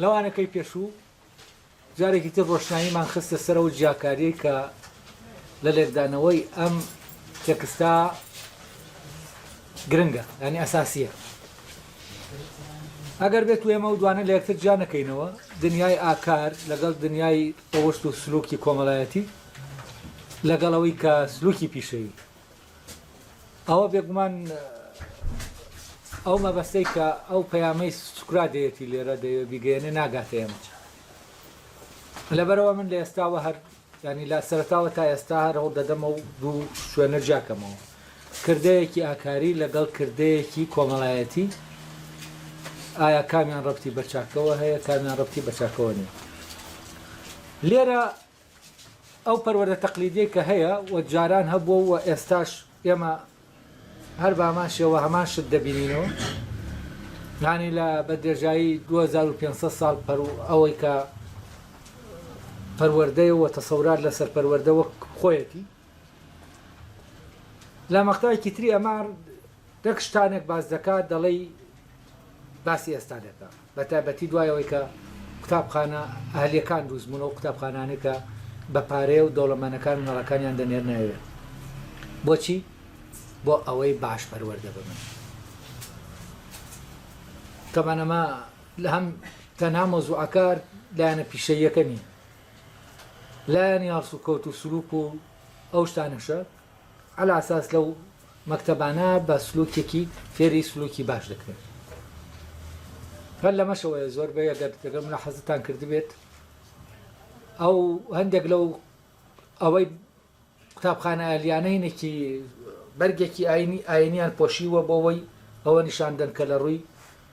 لە وانەکەی پێشوو جارێکی تر ڕۆشناییمان خستە سەر ئەو جیاکاریەی کە لە لێکدانەوەی ئەم تێکستا گرنگە ینی ئەساسیە ئەگەر بێت و ئێمە و دوانە لە یەکتر جا نەکەینەوە دنیای ئاکار لەگەڵ دنیای ڕەوەشت و سلوکی کۆمەلایەتی لەگەڵەوەی کە سلوکی پیشەوی ئەوە بێگومان ئەو مەبەستەی کە ئەو پەیامەی سوکرا دەیەتی لێرە دەیە بیگەێنێ ناگاتە ئێمە لەبەرەوە من لە ئێستاوە هەر ینی لا سەرتاوە تا ئێستا هەر هەوڵ دەدەمە و دوو شوێنە جاکەمەوە کردەیەکی ئاکاری لەگەڵ کردەیەکی کۆمەڵایەتی ئایا کامیان ڕفتی بەچاکەوە هەیە کامیان ڕفتی بەچاکەوە نیە لێرە ئەو پەروەردە تەقلیدیەی کە هەیە و جاران هەبووە و ئێستاش ئێمە هەر بە هەمان شێوە هەمان شت دەبینینەوە یانی لە بە درێژایی 2500 ساڵ پەرو ئەوەی کە پەروەردەیە و تەسەورات لەسەر پەروەردە وەک خۆیەتی لە مەقتایەکی تری ئەمە دەک شتانەک باس دەکا دەڵێی باسی ئێستا دەکا بەتایبەتی دوای ئەوەی کە قوتابخانە ئەهلیەکان دروست بوون و قوتابخانانەی کە بە پارەیە و دەوڵەمەنەکان و نەڕەکانیان دەنێرنایوێ بۆچی بۆ ئەوەی باش پەروەردە ببن تەمان ئەمە لە هەم تەنها مۆزوعەکار لایەنە پیشەیەکە نییە لایەنی هەڵسوکەوت و سلوک و ئەو شتانەشە عەلی ئەساس لەو مەکتەبانە بە سلوکێکی فێری سلوکی باش دەکرێن هەر لەمەشەوەیە زۆربەی ئەگەر تێگەم لە حەزتان کردبێت ئەو هەندێک لەو ئەوەی قوتابخانە ئەلیانەینێکی بەرگێکی ئاینی ئاینیان پۆشیوە بۆەوەی ئەوە نیشاندن کە لە ڕووی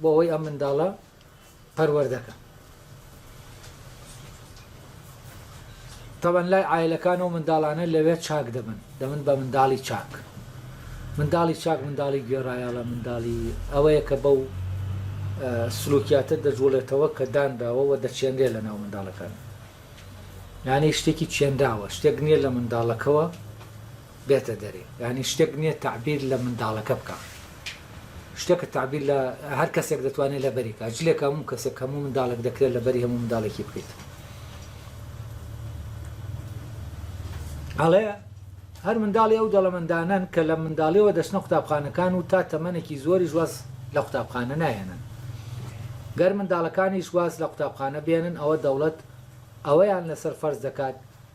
بۆ ئەوەی ئەم منداڵە پەروەردەکەم. تەبەن لای عایلەکان ئەو منداڵانە لەوێ چاک دەبن دەبن بە منداڵی چاک. منداڵی چاک منداڵی گوێڕایەڵە منداڵی ئەوەیە کە بەو سلوکیاتە دەجوڵێتەوە کە دانراوە و دەچێنرێ لە ناو منداڵەکان. یانەی شتێکی چێنراوە شتێک نییە لە منداڵەکەوە بێتە دەرێ یانی شتێک نیە تەعبیر لە منداڵەکە بکا شتێکە تەعبیر لە هەر کەسێک دەتوانێت لەبەری کا جلێک هەموو کەسێک هەموو منداڵێک دەکرێت لەبەری هەموو منداڵێکی بکەیت ئەڵێ هەر منداڵی ئەو دەڵەمەندانن کە لە منداڵیەوە دەچنە قوتابخانەکان و تا تەمەنێکی زۆری ژواز لە قوتابخانە نایەنن گەر منداڵەکانیش واز لە قوتابخانە بێنن ئەوە دەوڵەت ئەوەیان لەسەر فەرز دەکات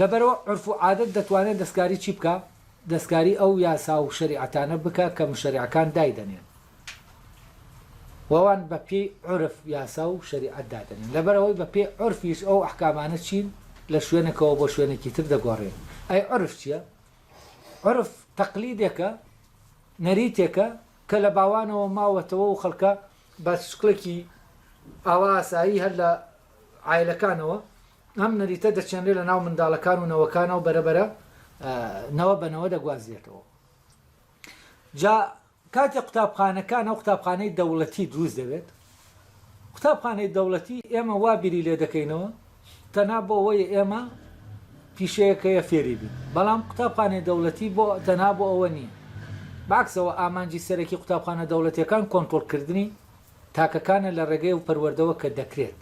لەبەرئەوە عورف و عادەت دەتوانێ دەستکاری چی بکا؟ دەستکاری ئەو یاسا و شەریعەتانە بکا کە موشەرعەکان دایدەنێن و ئەوان بە پێی عورف یاسا و شەریعەت دادەنێن لەبەرئەوەی بە پێی عورفیش ئەو ئەحکامانە چین لە شوێنێکەوە بۆ شوێنێکی تر دەگۆڕێن ئەی عورف چیە؟ عورف تەقلیدێکە نەریتێکە کە لە باوانەوە ماوەتەوە و خەڵکە بە شکڵێکی ئاوا ئاسایی هەر لە عایلەکانەوە ئەم نەریتە دەچێنرێت لە ناو منداڵەکان و نەوەکانەوە بەرەبەرە نەوە بە نەوە دەگوازرێتەوە جا کاتێک قوتابخانەکان ئەو قوتابخانەی دەوڵەتی دروست دەبێت قوتابخانەی دەوڵەتی ئێمە وا بیری لێ دەکەینەوە تەنا بۆ ئەوەی ئێمە پیشەیەکەیە فێری بین بەڵام قوتابخانەی دەوڵەتی بۆ تەنا بۆ ئەوە نییە باکسەوە ئامانجی سەرەکی قوتابخانە دەوڵەتەکان کۆنتترۆلکردنی تاکەکانە لە ڕێگەی ئەو پەروەردەوە کە دەکرێت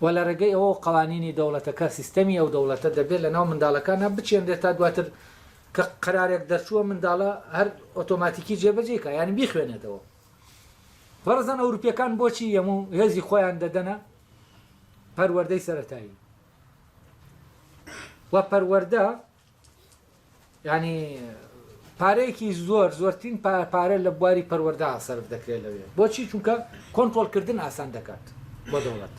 و لە ڕێگەی ئەوەوە قەوانینی دەوڵەتەکە سیستەمی ئەو دەوڵەتە دەبێت لە ناو منداڵەکانا بچێنرێت تا دواتر کە قەرارێک دەرچووە منداڵە هەر ئۆتۆماتیکی جێبەجێی کا یانی بیخوێنێتەوە بەڕزان ئەوروپیەکان بۆچی یەمو هێزی خۆیان دەدەنە پەروەردەی سەرەتایی و پەروەردە یانی پارەیەکی زۆر زۆرترین پارە لە بواری پەروەردە سەرف دەکرێت لەوێ بۆچی چونکە کۆنتترۆلکردن ئاسان دەکات بۆ دەوڵەت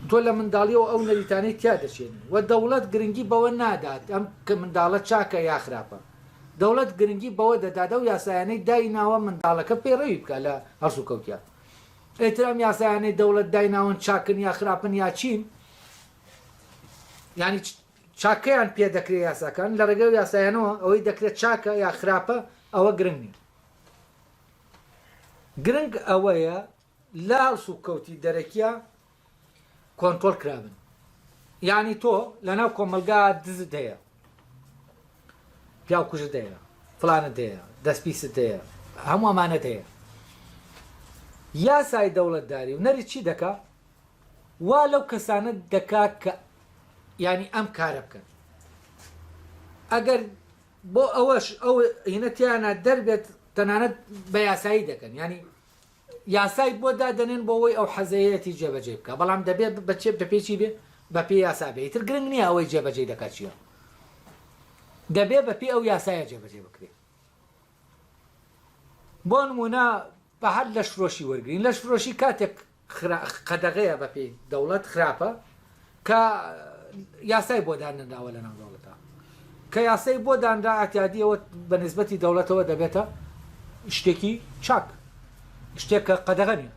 تۆ لە منداڵیەوە ئەو نەریتانەی تیا دەچێنی و دەوڵەت گرنگی بەوە نادات ئەم کە منداڵە چاکە یا خراپە دەوڵەت گرنگی بەوە دەدادە و یاسایانەی دایناوە منداڵەکە پێڕەوی بکە لە هەڵسو کەوتە ئەترام یاسایانەی دەوڵەت دایناون چاکن یا خراپن یا چین ینی چاکەیان پێ دەکرێ یاساکان لە ڕێگەی ئەو یاسایانەوە ئەوەی دەکرێ چاکە یا خراپە ئەوە گرنگ نیە گرنگ ئەوەیە لە هەڵسو کەوتی دەرەکیە کۆنترۆل کرابن یعنی تۆ لە ناو کۆمەلگا دزت هەیە پیاو کوژت هەیە فلانت هەیە دەست پیست هەیە هەموو ئەمانەت هەیە یاسای دەوڵەتداری و نەری چی دەکا وا لەو کەسانە دەکا کە یانی ئەم کارە بکەن ئەگەر بۆ ئەوەش ئەو هینەتیانە دەربێت تەنانەت بە یاسایی دەکەن ینی یاسای بۆ دادەنێن بۆەوەی ئەو حەزەیەتی جێبەجێ بکە بەڵام دەبێت بەچێت بەپێکی بێ بەپی یاسا بێ تر گرنگ نییە ئەوەی جێبەجێ دەکات چیە دەبێ بەپی ئەو یاسایە جێبەجێ بکرێت بۆ نمونە بە هەر لەش فرۆشی وەرگین لەش فرۆشی کاتێک قەدەغەیە بە پێی دەوڵەت خراپە کە یاسای بۆ دانراوە لە ناو دەوڵەتە کە یاسای بۆ دانرا ئاتیادیەوە بە نسبەتی دەوڵەتەوە دەبێتە شتێکی چاک شتێک کە قەدەغە نیە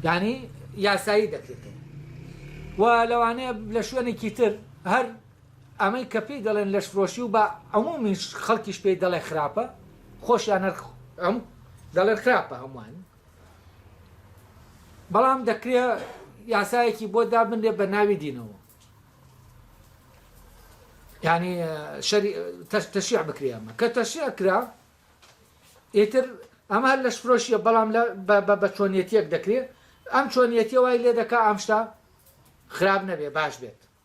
ینی یاسایی دەکرێتەوە و لەوانەیە لە شوێنێکی تر هەر ئەمەی کە پێی دەڵێن لەشفرۆشی و بە عمومی خەڵکیش پێی دەڵێ خراپە خۆشیان هەر ئەم دەڵێن خراپە هەمووان بەڵام دەکرێ یاسایەکی بۆ دابنرێ بە ناوی دینەوە ینی تەشیع بکرێ ئەمە کە تەشیع کرا ئیتر ئەمە هەر لەش فرۆشیە بەڵام بە چۆنیەتیەک دەکرێت ئەم چۆنیەتی وای لێ دەکا ئەم شتا خراپ نەبێ باش بێت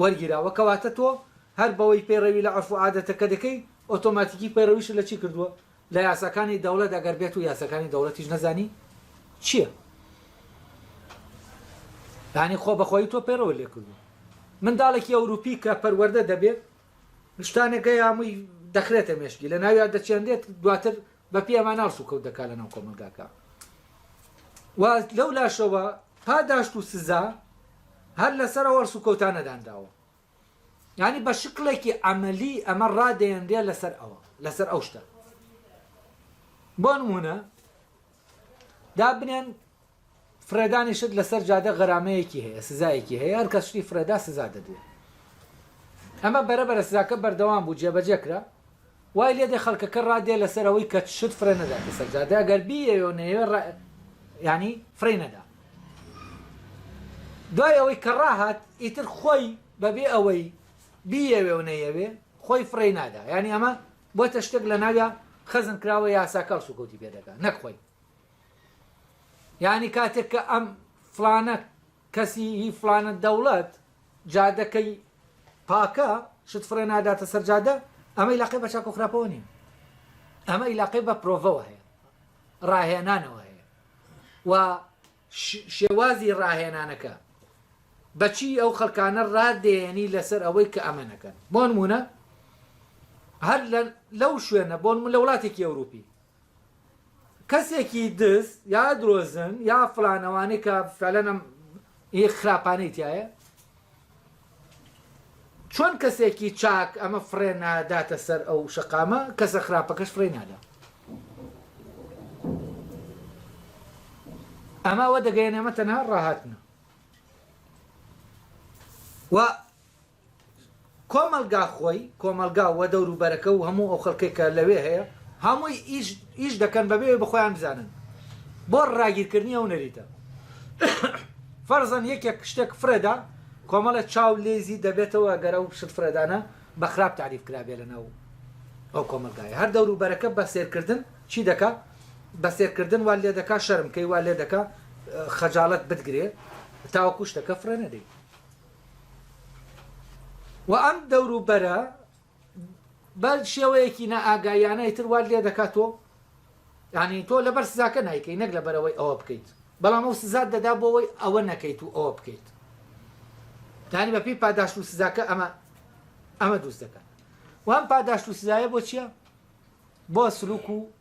وەرگیراوە کەواتە تۆ هەر بەوەی پەیڕەوی لە عورف و عادەتەکە دەکەی ئۆتۆماتیکی پەیڕەویشت لە چی کردووە لە یاساکانی دەوڵەت ئەگەر بێتو یاساکانی دەوڵەتیش نەزانی چیە یانی خۆ بەخۆی تۆ پەیڕەوە لێ کردووە منداڵێکی ئەوروپی کە پەروەردە دەبێت شتانەکە یامووی دەخرێتە مێشکی لە ناویا دەچێنرێت دواتر بە پێی ئەمان هەڵس و کەوت دەکات لە ناو کۆمەڵگاکە و لەو لاشەوە پاداشت و سزا هەر لەسەر ئەو هەڵس و کەوتانە دانراوە ینی بە شکڵێکی ئەمەلی ئەمە ڕادێنرێ لەسەر ئەوە لەسەر ئەو شتە بۆ نمونە دابنێن فڕێدانی شت لەسەر جادە غەرامەیەکی هەیە سزایەکی هەیە هەر کەس شتی فڕێدا سزا دەدرێت ئەمە بەرە بەرە سزاکە بەردەوام بوو جێبەجێ کرا وای لێ دێ خەڵکەکە ڕادێ لەسەر ئەوەی کە شت فڕێ نەداتە سەر جادە ئەگەر بیەوێ و نەیەوێ ڕا... ینی فڕێ نەدا دوای ئەوەی کە ڕاهات ئیتر خۆی بەبێ ئەوەی بیەوێ و نەیەوێ خۆی فڕێ نادا ینی ئەمە بۆتە شتێک لە ناویا خەزن کراوە یاساکە سوکەوتی پێ دەکات نەک خۆی یانی کاتێک کە ئەم فلانە کەسی هی فلانە دەوڵەت جادەکەی پاکە شت فڕێ ناداتە سەر جادە ئەمەی لاقی بە چاکۆ خراپەوە نین ئەمە ئیلاقی بە پرۆڤەوە هەیە ڕاهێنانەوە هەیە و شێوازی ڕاهێنانەکە بەچی ئەو خەلکانە ڕادێنی لەسەر ئەوەی کە ئەمە نەکەن بۆن مونە هەر لەو شوێنە بۆن من لە وڵاتێکی ئەوروپی کەسێکی دز یا درۆزن یا فلان ئەوانەی کە فعلەن ئەم ئی خراپانەی تیایە چۆن کەسێکی چاک ئەمە فڕێ ناداتە سەر ئەو شەقامە کەسە خراپەکەش فڕێ نادا ئەمە ئەوە دەگەیەنێمە تەنها ڕاهاتنە و کۆمەڵگا خۆی، کۆمەڵگا و دەوروبەرەکە و هەموو ئەو خەڵکەی کە لەوێ هەیە، هەمووی ئیش ئیش دەکەن بەبێ ئەوەی بەخۆیان بزانن بۆ ڕاگیرکردنی ئەو نەریتە. فەرزەن یەکێک شتێک فرێدا، کۆمەڵە چاو لێزی دەبێتەوە ئەگەر ئەو شت فرێدانە بە خراپ تاریف کرابێ لەناو ئەو کۆمەڵگایە. هەر دەوروبەرەکە بە سێرکردن چی دەکا؟ بە سێرکردن وات لێ دەکا شەرم کەی، وات لێ دەکا خەجاڵەت بتگرێ تاوەکوو شتەکە فرێ نەدەی. و ئەم دەوروبەرە بە شێوەیەکی نائاگایانە ئیتر وات لێ دەکات تۆ یعنی تۆ لەبەر سزاکە نایکەی نەک لەبەرەوەی ئەوە بکەیت بەڵام ئەو سزات دەدا بۆەوەی ئەوە نەکەیت و ئەوە بکەیت دانی بەپی پاداشت و سزاکە ئەمە ئەمە دروست دەکات وام پاداشت و سزایە بۆ چییە بۆ سلوک و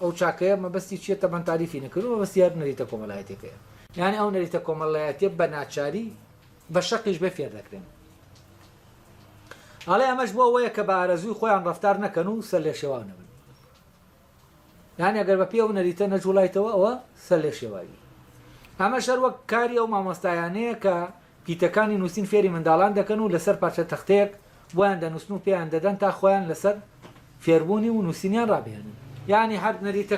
ئەو چاکەیە مەبەستی چیە تەبان تاریفی نەکردوە مەبەستی هەر نەریتە کۆمەلایەتیەکەیە یانی ئەو نەریتە کۆمەلایەتیە بە ناچاری بە شەقیش بێ فێر دەکرێن ئەڵێ ئەمەش بۆ ئەوەیە کە بە ئارەزووی خۆیان ڕفتار نەکەن و سەر لێ شێواو نەبن یانی ئەگەر بە پێ و نەریتە نەجوڵایتەوە ئەوە سەر لێ شێواوی ئەمە شەر وەک کاری ئەو مامۆستایانەیە کە پیتەکانی نووسین فێری منداڵان دەکەن و لەسەر پارچە تەختەیەک بۆیان دەنووسن و پێیان دەدەن تا خۆیان لەسەر فێربوونی و نووسینیان ڕابهێنن. یانی هەر نەریتە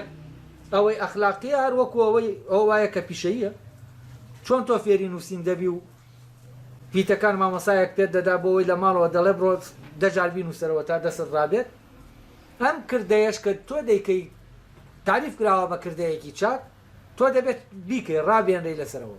ئەوەی ئەخلاقییە هەر وەکوو ئەوەی ئەوە وایە کە پیشەییە. چۆن تۆ فێری نووسین دەبی و پیتەکان مامۆستایەک پێت دەدا بۆ ئەوەی لە ماڵەوە دەڵێ بڕۆ دە جار بینووسەرەوە تا دەستت ڕابێت. ئەم کردەیەش کە تۆ دەیکەی تاریف کراوە بە کردەیەکی چاک، تۆ دەبێت بیکەی، ڕابهێنرێی لەسەرەوە.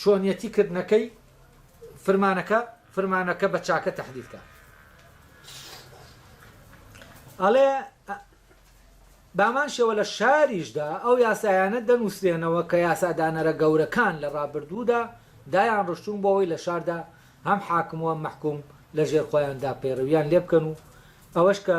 چۆنیەتی کردنەکەی فرمانەکە فرمانەکە بە چاکە تحلیل کە ئەڵێ بامان شێوە لە شاریشدا ئەو یاسایانە دەنووسێنەوە کە یاسادانەرە گەورەکان لە ڕابردوودا دایان ڕشتون بۆەوەی لە شاردا هەم حاکموە مەحکوم لە ژێر خۆیاندا پەیڕویان لێ بکەن و ئەوەش کە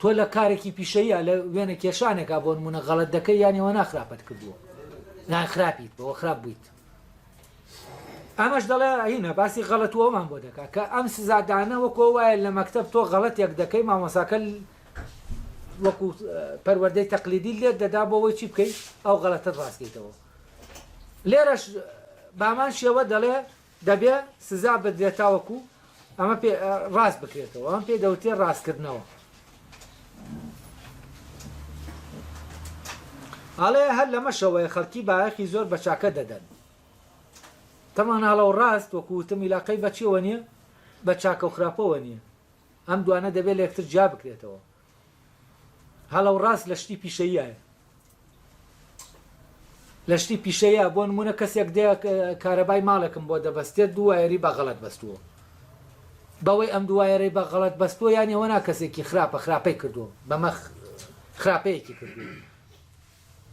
تۆ لە کارێکی پیشەییا لە وێنە کێشانێکا بۆ نمونە غەڵەت دەکەی یان ئەوەنا خراپەت کردووە یان خراپیت بەوە خراپ بوویت ئەمەش دەڵێ هینە باسی غەڵەتوەمان بۆ دەکات کە ئەم سزادانە وەکۆ وایە لە مەکتب تۆ غەڵەتێک دەکەی مامۆساکە وەکو پەروەردەی تەقلیدی لێت دەدا بۆەوەی چی بکەیت ئەو غەڵەتت ڕاستیتەوە لێرەش بامان شێوە دەڵێ دەبێ سزا بدرێت تاوەکو ئەمە پێ ڕاست بکرێتەوە، ئەمە پێی دەوترێت ڕاستکردنەوە. ئەڵێ هەر لەمەشەوەیە خەڵکی بایەخی زۆر بە چاکە دەدەن. تەمان هەڵە و ڕاست وەکو وتم ئیلاقەی بە چیەوە نییە؟ بە چاکە و خراپەوە نییە. ئەم دوانە دەبێ لە یەکتر جیا بکرێتەوە. هەڵە و ڕاست لە شتی پیشەییایە. لە شتی پیشەییە بۆ نموونە کەسێک دێ کارەبای ماڵێکم بۆ دەبەستێت دوو وایەری بە غەڵەت بەستووە بەوەی ئەم دوو وایەرەی بە غەڵەت بەستووە یان ئێوە نا کەسێکی خراپە خراپەی کردووە بەمە خراپەیەکی کردووە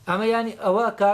ئەمە ینی ئەوە کە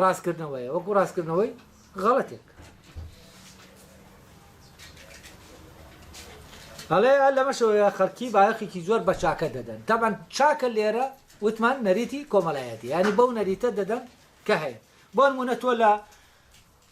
ڕاستکردنەوەیە وەکو ڕاستکردنەوەی غەڵەتێک هەڵێ لەمەشەوەیە خەڵکی بایەخێکی زۆر بە چاکە دەدەن تەبەن چاکە لێرە وتمان نەریتی کۆمەلایەتی ینی بەو نەریتە دەدەن کە هەیە بۆن مونە تۆ لە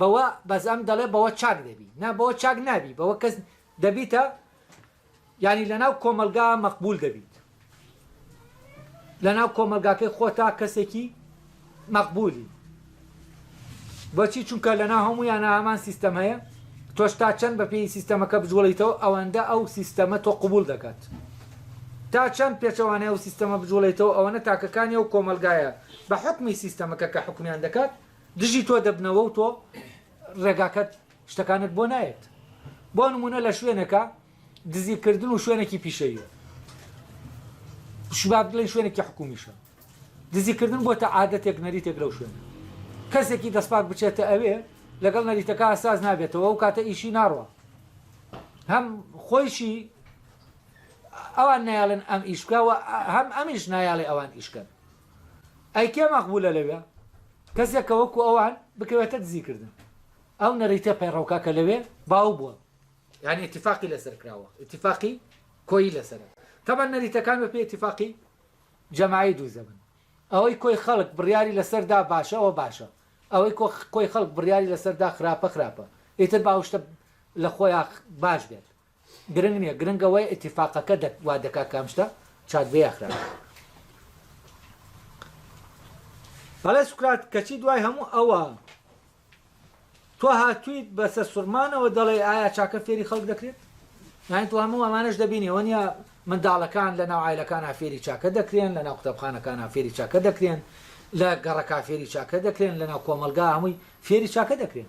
بەوە بەس ئەم دەڵێ بەوە چاک دەبی نا بەوە چاک نابی بەوە کەس دەبیتە یانی لەناو کۆمەلگا مەقبول دەبیت لەناو کۆمەلگاکەی خۆتا کەسێکی مەقبولی بۆچی چونکە لەنا هەموو یانە هەمان سیستەم هەیە تۆش تا چەند بە پێی سیستەمەکە بجوڵیتەوە ئەوەندە ئەو سیستەمە تۆ قوبول دەکات تا چەند پێچەوانەیە و سیستەمە بجوڵێتەوە ئەوەنە تاکەکانی ئەو کۆمەلگایە بە حکمی سیستەمەکە کە حکومیان دەکات دژی تۆ دەبنەوە و تۆ ڕێگاکەت شتەکانت بۆ نایەت بۆ نمونە لە شوێنەکە دزیکردن و شوێنێکی پیشەیە شباب بڵێن شوێنێکی حکومیشە دزیکردن بۆ تا عادەتێک نەریتێک لەو شوێن کەسێکی دەستپاک بچێتە ئەوێ لەگەڵ نەریتەکە ساز نابێتەوە و کاتە ئیشی ناڕوە هەم خۆیشی ئەوان نایڵێن ئەم ئیشکەوە هەم ئەمیش نایاڵێ ئەوان ئیشکەن ئەی کێ مەقبولە لەوێ؟ کەسێک کە وەکو ئەوان بکەوێتە دزی کردن. ئەو نەریتە پەیڕەوکە کە لەوێ باو بوە. یانی ئیتیفاقی لەسەر کراوە. ئیتیفاقی کۆیی لەسەرە. تەبەن نەریتەکان بە پێی ئیتیفاقی جەماعی دوو زەبن. ئەوەی کۆی خەڵک بڕیاری لەسەر دا باشە ئەوە باشە. ئەوەی کۆی خەڵک بڕیاری لەسەر دا خراپە خراپە. ئیتر با ئەو شتە لە خۆیا باش بێت. گرنگ نیە گرنگ ئەوەیە ئیتیفاقەکە دەک وا دەکا کام شتە چاک بێ یا خراپ بێ. بەڵێ سوکرات کەچی دوای هەموو ئەوە تۆ هاتویت بە سەرسوڕمانەوە دەڵێی ئایا چاکە فێری خەڵک دەکرێت یانی تۆ هەموو ئەمانەش دەبینی ئەوە نیە منداڵەکان لە ناو عایلەکانە فێری چاکە دەکرێن لە ناو قوتابخانەکانە فێری چاکە دەکرێن لە گەڕەکا فێری چاکە دەکرێن لە ناو کۆمەلگا هەمووی فێری چاکە دەکرێن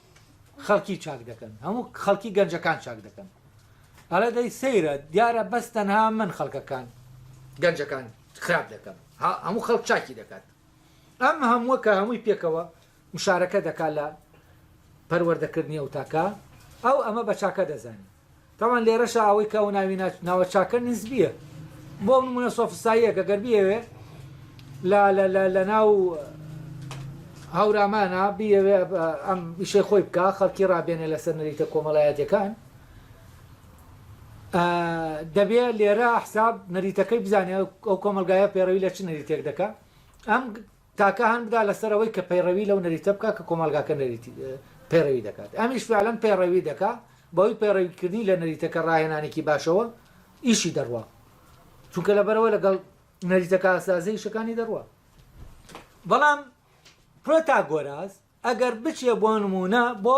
خەڵکی چاک دەکەن هەموو خەڵکی گەنجەکان چاک دەکەن ئەڵێ دەی سەیرە دیارە بەس تەنها من خەڵکەکان گەنجەکان خراپ دەکەم هەموو خەڵک چاکی دەکات ئەم هەمووە کە هەمووی پێکەوە مشارەکە دەکات لە پەروەردەکردنی ئەو تاکە ئەو ئەمە بە چاکە دەزانین تاوان لێرەشا ئەوەی کە ئەو ناوینە ناوە چاکە نسبیە بۆ ئەو نمونە سۆفستاییەکە گەر بیەوێ لە لە لە لە ناو هەورامانە بیەوێ ئەم ئیشەی خۆی بکە خەڵکی ڕابێنێ لەسەر نەریتە کۆمەڵایەتەکان دەبێ لێرە حساب نەریتەکەی بزانێ ئەو کۆمەلگایە پێڕەوی لە چ نەریتێک دەکە ئەم تاکە هان بدا لەسەر ئەوەی کە پەیڕەوی لەو نەریتە بکا کە کۆمەڵگاکە نەریتی پەیڕەوی دەکات ئەمیش فیعلەن پەیڕەوی دەکا بەهۆی پەیڕەوی کردنی لە نەریتەکە ڕاهێنانێکی باشەوە ئیشی دەڕوا چونکە لەبەرەوە لەگەڵ نەریتەکە ئاسازە ئیشەکانی دەڕوا بەڵام پرۆتاگۆراس ئەگەر بچێ بۆ نموونە بۆ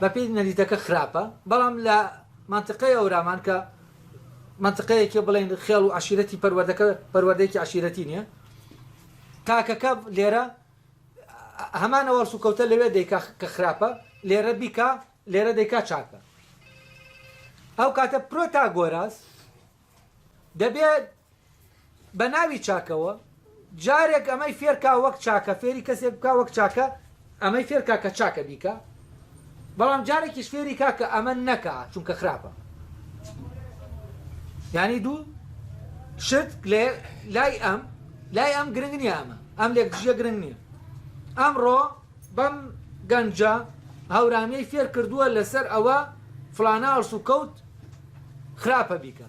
بە پێی نەریتەکە خراپە بەڵام لە مەنتقەی ئەورامان کە مەنتقەیەکێ بڵێن خێڵ و عەشیرەتی پەروەردەکە پەروەردەیەکی عەشیرەتی نییە تاکەکە لێرە هەمان ئەوەڵ سوکەوتە لەوێ دەیکا کە خراپە لێرە بیکا لێرە دەیکا چاکە ئەو کاتە پرۆتاگۆراس دەبێت بە ناوی چاکەوە جارێک ئەمەی فێرکا وەک چاکە فێری کەسێک بکا وەک چاکە ئەمەی فێرکا کە چاکە بیکا بەڵام جارێکیش فێری کا کە ئەمە نەکا چونکە خراپە یعنی دوو شت لێ لای ئەم لای ئەم گرنگ نییە ئەمە ئەم لێک دژیە گرنگ نییە ئەمڕۆ بەم گەنجە هاورامیەی فێر کردووە لەسەر ئەوە فلانە ئەڵسو کەوت خراپە بیکە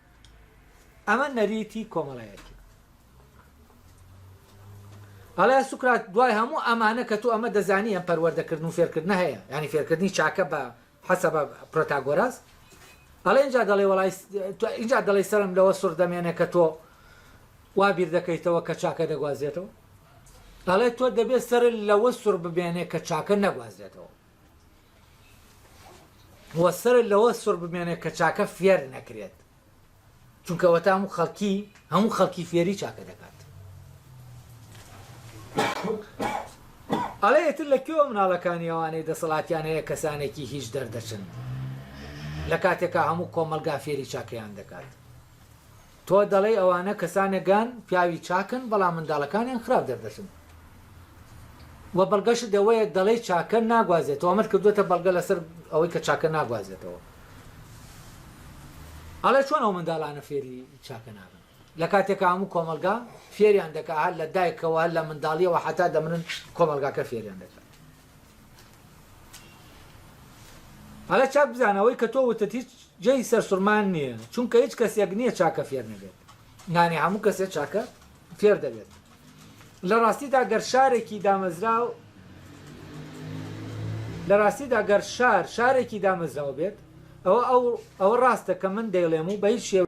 ئەمە نەریتی کۆمەڵایەتی ئەڵێ سوکرات دوای هەموو ئەمانە کە تۆ ئەمە دەزانی ئەم پەروەردەکردن و فێرکردن هەیە ینی فێرکردنی چاکە بە حەسە بە پرۆتاگۆراس ئەڵێ اینجا دەڵێ وڵی اینجا دەڵی سەرم لەوە سڕ دەمێنێ کە تۆ وا بیر دەکەیتەوە کە چاکە دەگوازێتەوە ئەڵێ تۆ دەبێت سەر لەوە سڕ ببێنێ کە چاکە نەگوازێتەوە و سەرت لەوە سوڕ بمێنێت کە چاکە فێر نەکرێت چونکە وەتا هەموو خەڵکی هەموو خەڵکی فێری چاکە دەکات ئەڵێ ئێتر لە کوێوە مناڵەکانی ئەوانەی دەسەڵاتیان هەیە کەسانێکی هیچ دەردەچن لە کاتێکا هەموو کۆمەلگا فێری چاکەیان دەکات تۆ دەڵێی ئەوانە کەسانێگان پیاوی چاکن بەڵام منداڵەکانیان خراپ دەردەچن وە بەڵگەشت ئەوەیە دەڵێی چاکە ناگوازێتەوە ئەمەت کردووەتە بەڵگە لەسەر ئەوەی کە چاکە ناگوازێتەوە ئەڵێ چۆن ئەو منداڵانە فێری چاکە نابن لە کاتێکا هەموو کۆمەڵگا فێریان دەکا هەر لە دایکەوە هەر لە منداڵیەوە حەتا دەمرن کۆمەڵگاکە فێریان دەکا هەڵە چاک بزانە ئەوەی کە تۆ وتت هیچ جێی سەرسورمان نییە چونکە هیچ کەسێک نییە چاکە فێر نەبێت نانی هەموو کەسێک چاکە فێر دەبێت لە ڕاستیدا گەر شارێکی دامەزراو لە ڕاستیدا گەر شار شارێکی دامەزراو بێت ئەوە ئەو ئەوە ڕاستە کە من دەیڵێم و بە هیچ شێوە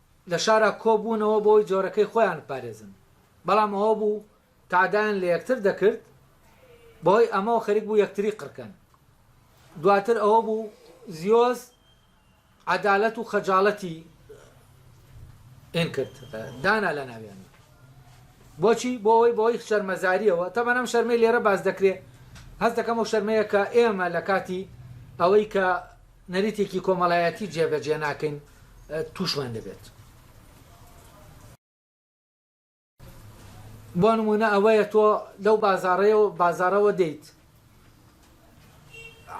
لە شارا کۆبوونەوە بۆی جۆرەکەی خۆیان بپارێزن، بەڵام ئەوە بوو تەعدایان لە یەکتر دەکرد بەهۆی ئەمەوە خەریک بوو یەکتری قڕکەن، دواتر ئەوە بوو زیۆس عەدالەت و خەجاڵەتی ان کرد دانا لە ناویاندا بۆچی بۆ ئەوەی بەهۆی شەرمەزاریەوە تەبەن ئەم شەرمەی لێرە باس دەکرێ هەست دەکەم ئەو شەرمەیە کە ئێمە لە کاتی ئەوەی کە نەریتێکی کۆمەڵایەتی جێبەجێ ناکەین تووشمان دەبێت. بۆ نموونە ئەوەیە تۆ لەو بازاڕەیە و بازارەوە دێیت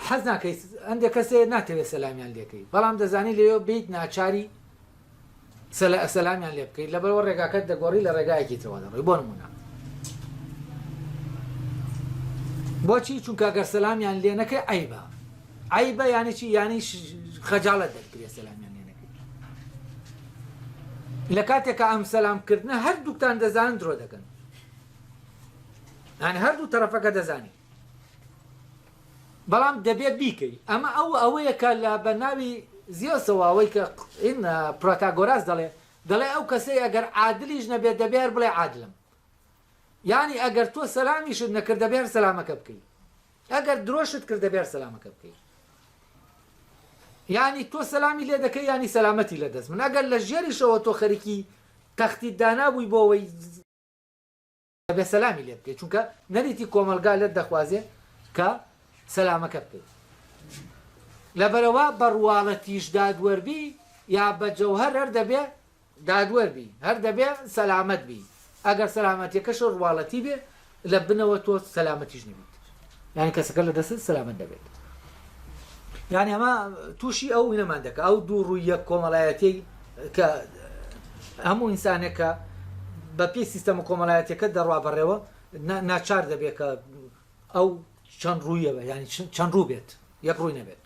حەز ناکەیت ئەندێک کەسێ ناتەوێت سەلامیان لێکەی بەڵام دەزانی لێ بێیت ناچاری سەلامیان لێ بکەیت لەبەرەوە ڕێگاکەت دەگۆڕی لە ڕێگایەکی ترەوە دەڕۆی بۆ نمونە بۆچی چونکە گەر سەلامیان لێ نەکە عیبە عیبە یانی چی یانی خەجاڵت دەکرێت سەلامیان لێ نەکەی لە کاتێکە ئەم سەلامکردنە هەردووکتان دەزان درۆ دەکەن ئەن هەردوو تەرەفەکە دەزانین بەڵام دەبێت بیکەی ئەمە ئەو ئەوەیە کە لە بە ناوی زیۆسەوە ئەوەی کە ئین پرۆتاگۆراس دەڵێ دەڵێ ئەو کەسەی ئەگەر عادلیش نەبێت دەبێ هەر بڵێ عادلم یانی ئەگەر تۆ سەلامیشت نەکرد دەبێ هەر سەلامەکە بکەی ئەگەر درۆشت کرد دەبێ هەر سەلامەکە بکەی یانی تۆ سەلامی لێ دەکەی ینی سەلامەتی لە دەست من ئەگەر لە ژێریشەوە تۆ خەریکی تەختی دانابووی بۆەوەی ئەبێ سەلامی لێ بکەی چونکە نەریتی کۆمەڵگا لێت دەخوازێ کە سەلامەکە بکەی لەبەرئەوە بە ڕواڵەتیش دادوەر بی یا بە جەوهەر هەر دەبێ دادوەر بی هەر دەبێ سەلامەت بی ئەگەر سەلامەتیەکەش ڕواڵەتی بێ لە بنەوە تۆ سەلامەتیش نەبی. یانی کەسەکە لە دەستت سەلامەت دەبێت یانی ئەمە تووشی ئەو نەمان دەکە ئەو دوو ڕوویە کۆمەڵایەتی کە هەموو ئینسانێکە بە پێی سیستەمە کۆمەڵایەتەکە دەڕوا بەڕێوە ناچار دەبێت کە ئەو چەند ڕوویە بە ینی چەند ڕوو بێت یەک ڕووی نەبێت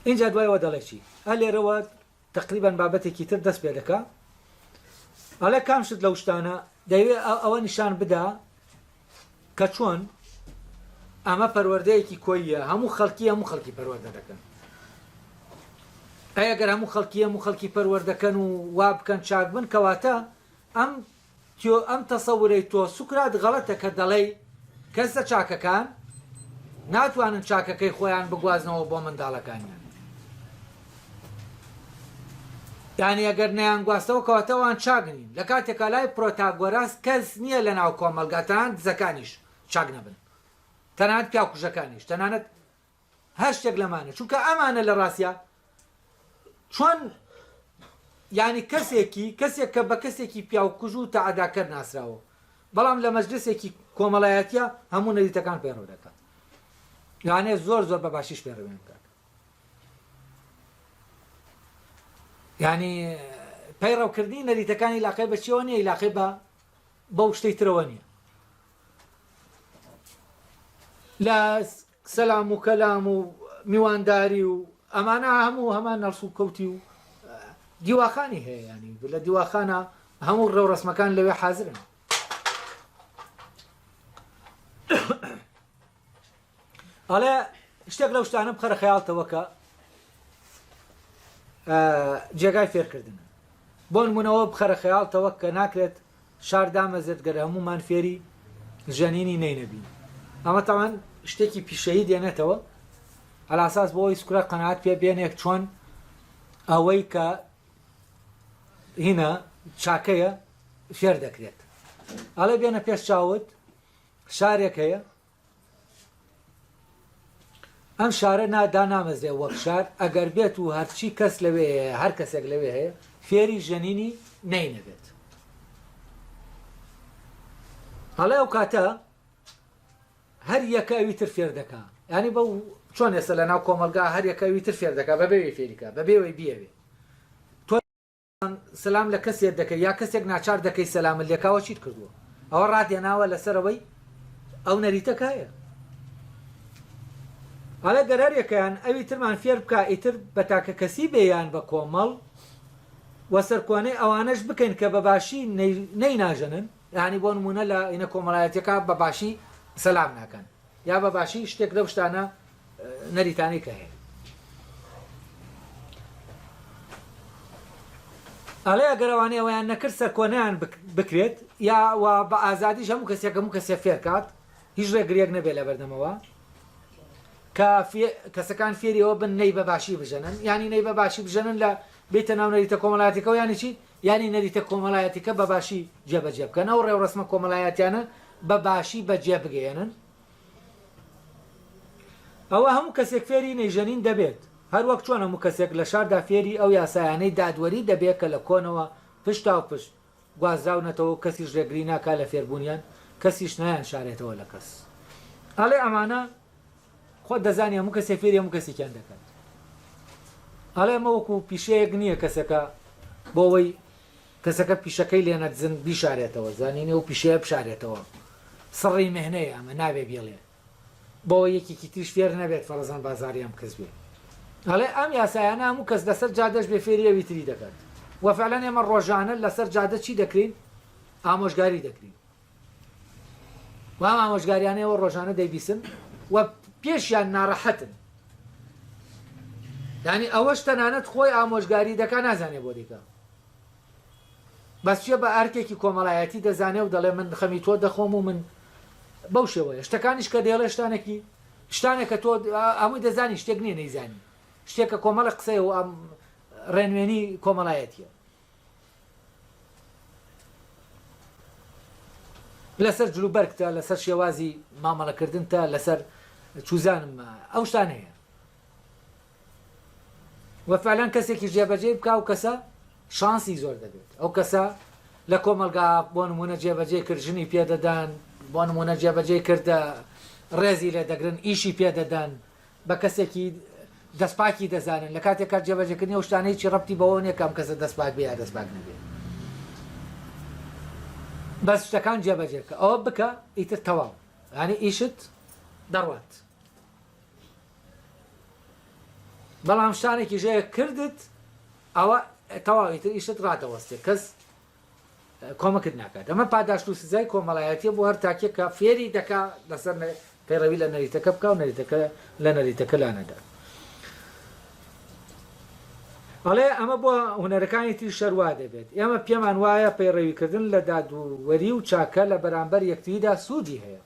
اینجا دوایەوە دەڵێکی هە لێرەوە تەقریبەن بابەتێکی تر دەست پێ دەکا ئەڵێ کام شت لەو شتانە دەیوێ ئەوە نیشان بدا کە چۆن ئەمە پەروەردەیەکی کۆیە هەموو خەڵکی هەموو خەڵکی پەروەردە دەکەن ئەگەر هەموو خەڵکی هەموو خەڵکی پەروەردەکەن و وا بکەن چاک بن کەواتە ئەم تۆ ئەم تەسەورەی تۆ سوکرات غەڵەتە کە دەڵێی کەسە چاکەکان ناتوانن چاکەکەی خۆیان بگوازنەوە بۆ منداڵەکانیان یانی ئەگەر نەیانگواستەوە کەواتە ئەوان چاک نین لە کاتێکا لای پرۆتاگۆراس کەس نییە لە ناو کۆمەڵگا تەنانەت دزەکانیش چاک نەبن تەنانەت پیاوکوژەکانیش تەنانەت هەر شتێک لەمانە چونکە ئەمانە لە ڕاستیا چۆن یعنی کەسێکی کەسێک کە بە کەسێکی پیاوکوژ و تەعداکەر ناسراوە بەڵام لە مەجلسێکی کۆمەڵایەتیە هەموو نەریتەکان پەیڕەو دەکات یانێ زۆر زۆر بە باشیش پێڕوێن بکات ینی پەیڕەوکردنی نەریتەکانی لاقی بەچیەوە نیە لاقی بە بەو شتەی ترەوە نیە لە سەلام و کەلام و میوانداری و ئەمانە هەموو هەمان هەڵسوکەوتی و دیواخانی هەیە یانی لە دیواخانە هەموو ڕێوڕسمەکان لەوێ حازرن ئەڵێ شتێک لەو شتانە بخەرە خەیاڵتەوە کە جێگای فێرکردن بۆن منەوە بخەرە خەیاڵتەوە کە ناکرێت شار دامەزرد گەر هەموومان فێری ژەنینی نەی نەبین ئەمە تەبعەن شتێکی پیشەیی دێنێتەوە ئەلاساس بۆ ئەوی سکرە قەنات پێ بێنێک چۆن ئەوەی کە هینە چاکەیە فێر دەکرێت ئەڵێ بێنە پێش چاوت شارێک هەیە ئەم شارە نا دانامەزرێ وەک شار ئەگەر بێت و هەرچی کەس لەوێ هەیە هەر کەسێک لەوێ هەیە فێری ژەنینی نەی نەبێت هەڵێ ئەو کاتە هەر یەکە ئەوی تر فێر دەکا ینی بە چۆن ێستا لە ناو کۆمەلگا هەر یەکە ئەوی تر فێر دەکا بەبێ فێریکە بەبێەوەی بیاوێ سەلام لە کەسێت دەکەی یا کەسێک ناچار دەکەی سەلامت لێکاوە چیت کردووە ئەوە ڕاتێناوە لەسەر ئەوەی ئەو نەریتە کایە هەڵێ گەرارێکیان ئەوی ترمان فێر بکە ئیتر بە تاکە کەسی بێیان بە کۆمەڵ وە سەرکۆنەی ئەوانەش بکەین کە بە باشی نەی ناژەنن یعنی بۆ نمونە لە ئینە کۆمەڵایەتەکە بە باشی سەلام ناکەن یا بە باشی شتێک لەو شتانە نەریتانی کە هەیە ئەڵێ ئەگەر ئەوانەی ئەویان نەکرد سەرکۆنیان بکرێت یا و بە ئازادیش هەموو کەسێک هەموو کەسێ فێرکات هیچ ڕێگرێک نەبێت لە بەردەمەوە کە کەسەکان فێری ئەوە بن نەی بە باشی بژەنن ینی نەی بە باشی بژەنن لە بێتە ناو نەریتە کۆمەڵاتیکە و یانیی ینی نەریتە کۆمەڵایەتیکە بە باشی جێبەجێ بکەن ئەو ڕێوڕسمە کۆمەلایەتیانە بە باشی بەجێ بگەێنن ئەوا هەموو کەسێک فێری نەیژەنین دەبێت، هەر وەک چۆن هەموو کەسێک لە شاردا فێری ئەو یاسایانەی دادوەری دەبێت کە لە کۆنەوە پشتاوپشت گوازراونەتەوە و کەسیش رێگری ناکات لە فێربوونیان، کەسیش نایانشارێتەوە لە کەس. ئەڵێ ئەمانە خۆت دەزانی هەموو کەسێک فێری هەموو کەسێکیان دەکات. ئەڵێ ئەمە وەکو پیشەیەک نییە کەسەکە بۆ ئەوەی کەسەکە پیشەکەی لێ نەدزن بیشارێتەوە زانینی ئەو پیشەیە بشارێتەوە سڕی مێهنەیە ئەمە نابێ بیڵێ بۆ یەکێکی تریش فێر نەبێت فەرەزان بازاریان بکەس بێ ئەڵێ ئەم یاسایانە هەموو کەس لەسەر جادەش بێ فێری ئەوی تری دەکات وە فعلەن ئێمە ڕۆژانە لەسەر جادە چی دەکرین ئامۆژگاری دەکرین و ئەم ئامۆژگاریانەیەوە ڕۆژانە دەیبیسن و پێشیان ناڕەحەتن یعنی ئەوەش تەنانەت خۆی ئامۆژگاری دەکا نازانێ بۆ دەیکا بەس چیە بە ئەرکێکی کۆمەڵایەتی دەزانێ و دەڵێ من خەمی تۆ دەخۆم و من بەو شێوەیە شتەکانیش کە دێڵێ شتانێکی شتانێکە تۆ ئەمووی دەزانی شتێک نییە نەیزانی شتێکە کۆمەڵە قسەیە و ئەم ڕێنوێنی کۆمەڵایەتیە لەسەر جلوبەرگتە لەسەر شێوازی مامەڵەکردنتە لەسەر چوزانم ئەو شتان هەیە وە فعلان کەسێکی جێبەجێ بکە و کەسە شانسی زۆر دەبێت ئەو کەسە لە کۆمەلگا بۆ نمونە جێبەجێ کرد ژنی پێدەدان بۆ نمونە جێبەجێ کردە ڕێزی لێ دەگرن ئیشی پێدەدەن بە کەسێکی دەست پاکی دەزانن لە کاتێکا جێبەجێکردنی ئەو شتانە هیچی ڕەبتی بەوەوە نیە کە ئەم کەسە دەست پاک بێ یا دەست پاک نەبێ بەس شتەکان جێبەجێ بکە ئەوە بکە ئیتر تەواو یانی ئیشت دەڕوات بەڵام شتانێکی ژەیە کردت ئەوە تەواو ئیتر ئیشت ڕادەوەستێ کەس کۆمەکت ناکات ئەمە پاداشت و سزای کۆمەڵایەتیە بۆ هەر تاکێک کە فێری دەکا لەسەر پەیڕەوی لە نەریتەکە بکا و نەریتەکە لە نەریتەکە لا نەدا ئەڵێ ئەمە بۆ هونەرەکانی تری شەر وا دەبێت ئێمە پێمان وایە پەیڕەویکردن لە دادوەری و چاکە لە بەرامبەر یەکتریدا سوودی هەیە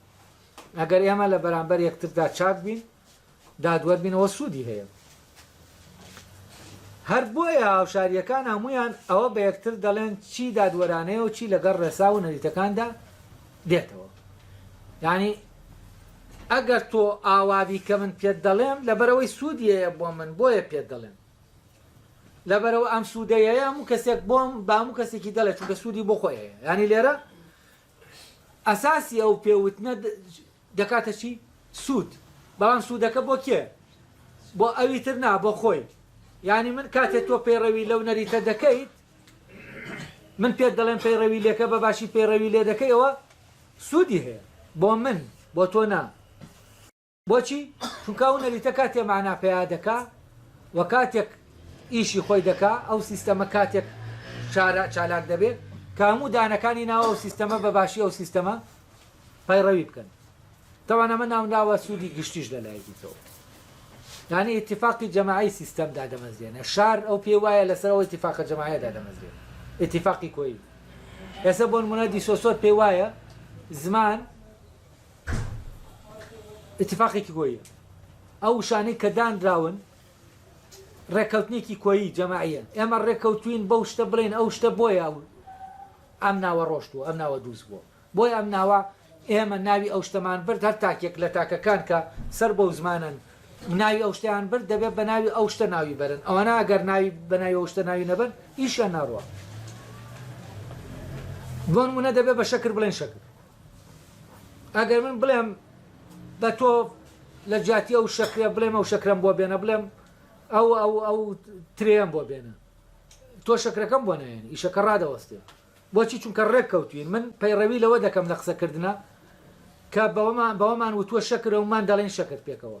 ئەگەر ئێمە لە بەرامبەر یەکتردا چاک بین دادوەربینەوە سودی هەیە هەر بۆیە هاوشاریەکان هەمویان ئەوە بە یەکتر دەڵێن چی دادوەرانەیە و چی لەگەڵ ڕێسا و نەریتەکاندا دێتەوە یانی ئەگەر تۆ ئاوابی کە من پێت دەڵێم لەبەرەوەی سوودیەیە بۆ من بۆیە پێت دەڵێم لەبەرەوە ئەم سوودەیە هەموو کەسێک بۆم باموو کەسێکی دەڵێت چونکە سوودی بۆ خۆیەیە ینی لێرە ئەساسی ئەو پێوتنە دەکاتە چی؟ سوود. بەڵام سوودەکە بۆ کێ؟ بۆ ئەوی تر نا، بۆ خۆی. یانی من کاتێ تۆ پەیڕەوی لەو نەریتە دەکەیت، من پێت دەڵێم پەیڕەوی لێکە بە باشی پەیڕەوی لێ دەکەی ئەوە سوودی هەیە بۆ من، بۆ تۆ نا. بۆچی؟ چونکە ئەو نەریتە کاتێ مانا پەیا دەکا و کاتێک ئیشی خۆی دەکا، ئەو سیستەمە کاتێک چارا، چالاک دەبێ کە هەموو دانەکانی ناو ئەو سیستەمە بە باشی ئەو سیستەمە پەیڕەوی بکەن. تەبعەن ئەمە ناونراوە سوودی گشتیش لە لایەکی ترەوە. یانی ئیتیفاقی جەماعی سیستەم دادەمەزرێنێ. شار ئەو پێی وایە لە سەر ئەو ئیتیفاقە جەماعیە دادەمەزرێ. ئیتیفاقی کۆیی. ئێستا بۆ نموونە دیسۆسۆر پێی وایە زمان، ئیتیفاقێکی کۆییە. ئەو وشانەی کە دانراون ڕێککەوتنێکی کۆیی جەماعیەن. ئێمە ڕێککەوتووین بەو شتە بڵێین ئەو شتە بۆیە ئەم ناوە ڕۆشتووە، ئەم ناوە دروست بووە. بۆیە ئەم ناوە ئێمە ناوی ئەو شتەمان برد، هەر تاکێک لە تاکەکان کە سەر بەو زمانەن ناوی ئەو شتەیان برد دەبێت بە ناوی ئەو شتە ناوی بەرن. ئەوانە ئەگەر ناوی بە ناوی ئەو شتە ناوی نەبەن ئیشیان ناڕوا. بۆ نموونە دەبێت بە شەکر بڵێن شەکر. ئەگەر من بڵێم بە تۆ لە جیاتی ئەو شەکرە بڵێم ئەو شەکرەم بۆ بێنە بڵێم ئەو ئەو ئەو ترێم بۆ بێنە تۆ شەکرەکەم بۆ نایەن ئیشەکە ڕادەوەستێ بۆچی چونکە ڕێک کەوتوین من پەیڕەوی لەوە دەکەم لە قسەکردە کە بەوەمان بەوەمان وتووە شەکرە ومان دەڵێن شەکرد پێکەوە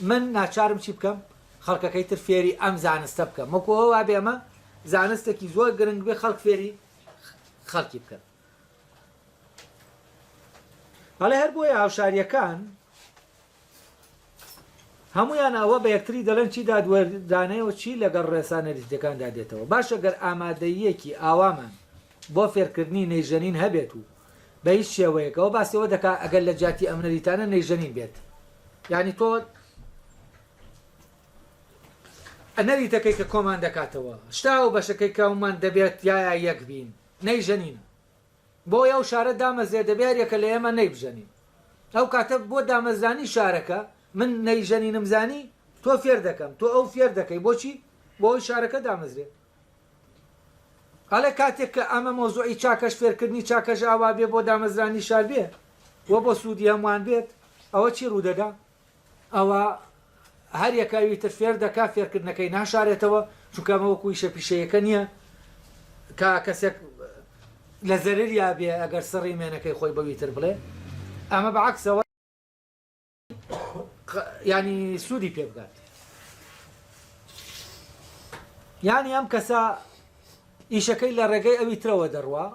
من ناچارم چی بکەم خەڵکەکەی تر فێری ئەم زانستە بکەم وەکو ئەوە وابێ ئەمە زانستێکی زۆر گرنگ بێ خەڵک فێری خەڵکی بکەن بەڵێ هەر بۆیە هاوشاریەکان هەمویان ئەوە بە یەکتری دەڵێن چی دادوەردانەوە چی لەگەڵ ڕێسانەریزیەکاندا دێتەوە باشە گەر ئامادەیەکی ئاوامان بۆ فێرکردنی نەیژەنین هەبێت و بە هیچ شێوەیەک ئەوە باسی ئەوە دەکا ئەگەر لە جیاتی ئەم نەریتانە نەیژەنین بێت یانی تۆ نەریتەکەی کە کۆمان دەکاتەوە شتا و بەشەکەی کەومان دەبێت یایا یەک بین نەیژەنینە بۆ ئەو شارە دامەزرێ دەبێ هەریەکە لە ئێمە نەیبژەنین ئەو کاتە بۆ دامەزرانی شارەکە من نەیژەنینم زانی تۆ فێر دەکەم تۆ ئەو فێر دەکەی بۆچی بۆ ئەوی شارەکە دامەزرێت ئەڵێ کاتێک کە ئەمە مەوزوعی چاکەش فێرکردنی چاکەش ئاوا بێ بۆ دامەزرانی شار بێ و بۆ سوودی هەمووان بێت ئەوە چی ڕوو دەدا؟ ئەوە هەر یەکە ئەوی تر فێر دەکا فێرکردنەکەی ناشارێتەوە چونکە ئەمە وەکوو ئیشە پیشەییەکە نییە کە کەسێک لە زەرەریا بێ ئەگەر سڕی مێنەکەی خۆی بەوی تر بڵێ ئەمە بە عەکسەوە یانی سوودی پێ بگات یانی ئەم کەسە ئیشەکەی لە ڕێگەی ئەوی ترەوە دەڕوا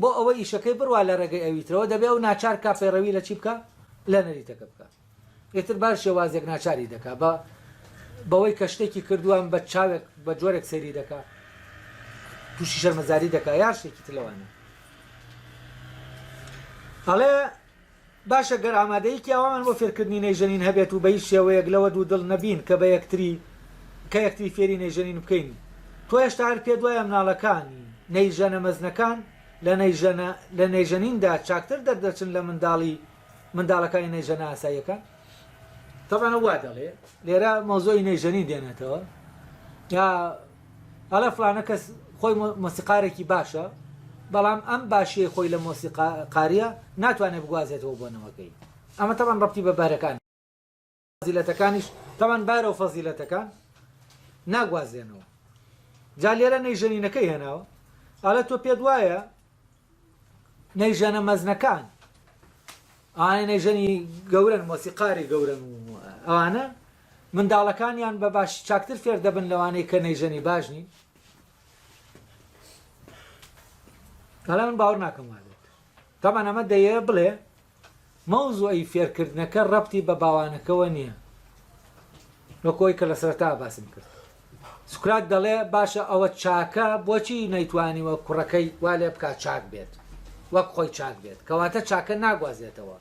بۆ ئەوە ئیشەکەی بڕوا لە ڕێگەی ئەوی ترەوە دەبێ ئەو ناچار کا پەیڕەوی لە چی بکە لە نەریتەکە بکە ئێتر باش شێوازێک ناچاری دەکا بە بەوەی کە شتێکی کردووان بە چاوێک بە جۆرێک سەیری دەکا تووشی شەرمەزاری دەکا یار شتێکی تلەوانە ئەڵێ باشە گەر ئامادەیی پیاوەمان بۆ فێرکردنی نەیژەنین هەبێت و بە هیچ شێوەیەک لەوە دوو دڵ نەبین کە بە یەکتری کە یەکتری فێری نەیژەنین بکەین تۆ هێشتا هەر پێت وایە مناڵەکان نەیژەنە مەزنەکان لە نەیژەنە لە نەیژەنیندا چاکتر دەردەچن لە منداڵی منداڵەکانی نەیژەنە ئاساییەکان؟ تەبعەن ئەو وا دەڵێ لێرە مەوزوعی نەیژەنین دێنێتەوە جا ئەڵێ فڵانە کەس خۆی مۆسیقارێکی باشە، بەڵام ئەم باشییەی خۆی لە مۆسیقارییە ناتوانێت بگوازێتەوە بۆ نەوەکەی. ئەمە تەبعەن ڕەبتی بە بەهرەکانی و فەزیلەتەکانیش، تەبعەن بەهرە و فەزیلەتەکان ناگوازرێنەوە. جا لێرە نەیژەنینەکەی هێناوە، ئەڵێ تۆ پێت وایە، نەی ژەنە مەزنەکان ئەوانەی نەی ژەنی گەورەن مۆسیقاری گەورەن و ئەوانە منداڵەکانیان بە باش چاکتر فێر دەبن لەوانەی کە نەی ژەنی باش نین بەڵام من باوەڕ ناکەم وابێت تامان ئەمە دەیە بڵێ مەوزوعی فێرکردنەکە ڕەبتی بە باوانەکەوە نیە وەکو ئەوەی کە لە سەرەتاوە باسم کرد سوکرات دەڵێ باشە ئەوە چاکە بۆچی نەیتوانیوە کوڕەکەی وا لێ بکات چاک بێت وەک خۆی چاک بێت کەواتە چاکە ناگوازێتەوە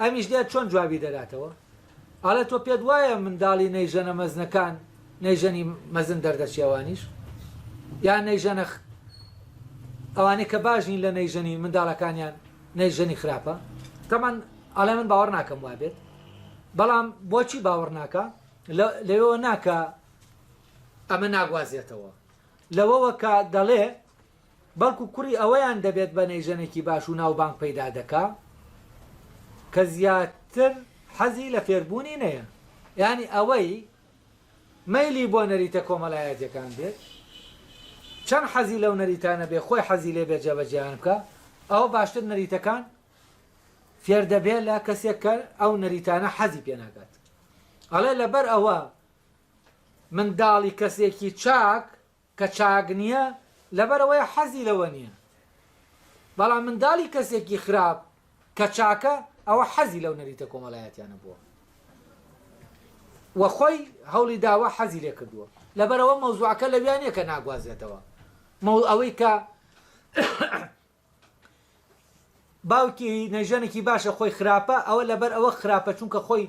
ئەمیش دێت چۆن جوابی دەداتەوە ئەڵێ تۆ پێت وایە منداڵی نەیژەنە مەزنەکان نەیژەنی مەزن دەردەچێ ئەوانیش یان نەیژەنە ئەوانەی کە باش نین لە نەیژەنی منداڵەکانیان نەیژەنی خراپە تەمان ئەڵێ من باوەڕ ناکەم وابێت بەڵام بۆچی باوەڕ ناکە لەوەوە ناکە ئەمە ناگوازێتەوە لەوەوە کە دەڵێ بەڵکو کوڕی ئەویان دەبێت بەنەی ژەنێکی باش و ناوبانگ پەیدا دەکا کە زیاتر حەزی لە فێربوونی نەیە یانی ئەوەی مەیلی بۆ نەریتە کۆمەلایەتیەکان بێت چەند حەزی لەو نەریتانە بێ خۆی حەزی لێ بێ جێبەجێیان بکا ئەوە باشتر نەریتەکان فێر دەبێ لە کەسێک کە ئەو نەریتانە حەزی پێ ناکات ئەڵێ لەبەر ئەوە منداڵی کەسێکی چاک کە چاک نیە لەبەرئەوەیە حەزی لەوە نیە بەڵام منداڵی کەسێکی خراپ کە چاکە ئەوە حەزی لەو نەریتە کۆمەلایەتیانە بووە وە خۆی هەوڵی داوە حەزی لێ کردووە لەبەرەوە مەوزوعەکە لە ویانە کە ناگوازێتەوە مەوڵ ئەوەی کە باوکی نەژەنێکی باشە خۆی خراپە ئەوە لەبەر ئەوە خراپە چونکە خۆی